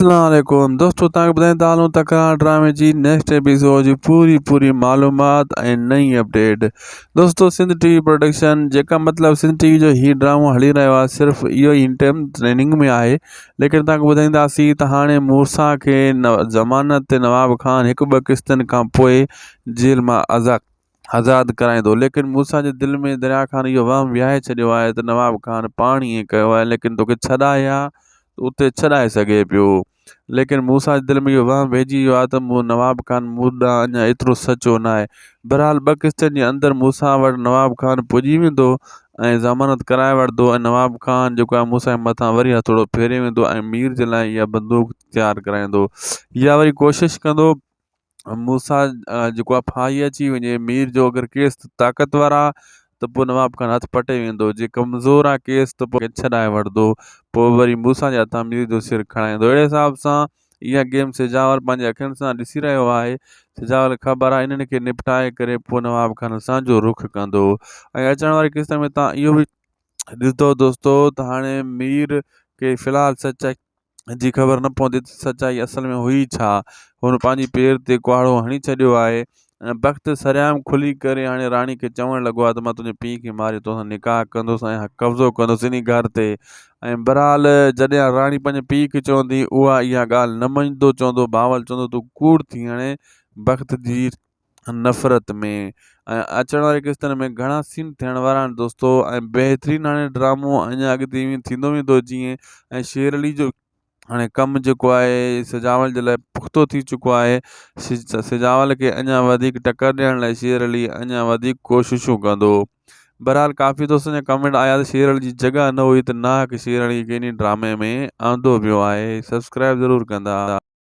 اسلام عليڪم دوستو توهان کي ٻڌائين ٿا هلون ته ڪران ڊرامي جي نيڪسٽ ايپيسوڊ جي پوري پوري معلومات ۽ نئين اپڊيٽ دوستو سنڌ ٽي وي پروڊڪشن جيڪا مطلب سنڌ ٽي وي جو هي ڊرامو هلي رهيو آهي صرف اهو هن ٽائم ٽريننگ ۾ آهي ليڪن توهان کي ٻڌائينداسين ته هاڻي مورسا کي ضمانت تي نواب خان هڪ ٻه قسطن کان پوء جيل مان آزاد آزاد ڪرائيندو ليڪن موسيٰ جي دل ۾ دريا خان اهو وهم وهائي ڇڏيو آهي ته نواب خان پاڻ ائين ڪيو آهي ليڪن توکي ڇڏائي ها ته اتي ڇڏائي سگهي پيو ليڪن موسيٰ جي دل ۾ اهو وهم وهجي ويو آهي ته مون نواب خان مون ڏانهن اڃا ايترو سچو ناهي بهرحال ٻه قسطن جي اندر موسيٰ وٽ نواب خان پڄي ويندو ۽ ضمانت ڪرائي وٺندو ۽ نواب خان جيڪو آهي موسيٰ جي مٿان وري هٿوڙو ڦيري ويندو ۽ مير جي لاء اها بندوق تيار ڪرائيندو يا وري ڪوشش ڪندو موسيٰ جيڪو آهي ڦاهي اچي وڃي مير جو اگر ڪيس ته طاقتور آ ته پوء نواب خان هٿ پٽي ويندو جي ڪمزور آ ڪيس ته پوء ڇڏائي وٺندو پوء وري موسيٰ جي هٿان مير جو سر کڻائيندو اهڙي حساب سان اها گيم سجاول پنهنجي اکين سان ڏسي رهيو آهي سجاول کي خبر آهي انهن کي نپٽائي ڪري پوء نواب خان اسان جو رخ ڪندو ۽ اچڻ واري قسط ۾ تان اهو به ڏسندو دوستو ته هاڻي مير کي في الحال سچائي جي خبر نه پوندي ته سچائي اصل ۾ هئي ڇا؟ هن پنهنجي پير تي ڪهاڙو هڻي ڇڏيو آهي ۽ بخت سرعام کلي ڪري هاڻي راڻي کي چوڻ لڳو آهي ته مان تنهنجي پيء کي ماري توسان نڪاح ڪندس ۽ قبضو ڪندس انهي گهر تي ۽ بهرحال جڏهن راڻي پنهنجي پيء کي چوندي اها اها ڳالهه نه مڃدو چوندو بهاول چوندو تون ڪوڙ ٿي هاڻي بخت جي نفرت ۾ ۽ اچڻ واري قسطن ۾ گهڻا سين ٿيڻ وارا آهن دوستو ۽ بهترين هاڻي ڊرامو اڃا اڳتي ائين ٿيندو ويندو جيئن ۽ شير علي جو هاڻي ڪم جيڪو آهي سجاول جي لاء پختو ٿي چڪو آهي سجاول کي اڃا وڌيڪ ٽڪر ڏيڻ لاء شير علي اڃا وڌيڪ ڪوششون ڪندو بهرحال ڪافي دوستن جا ڪمينٽ آيا ته شير علي جي جڳهه نه هئي ته ناحق شير علي کي انهي ڊرامي ۾ آندو ويو آهي سبسڪرائب ضرور ڪندا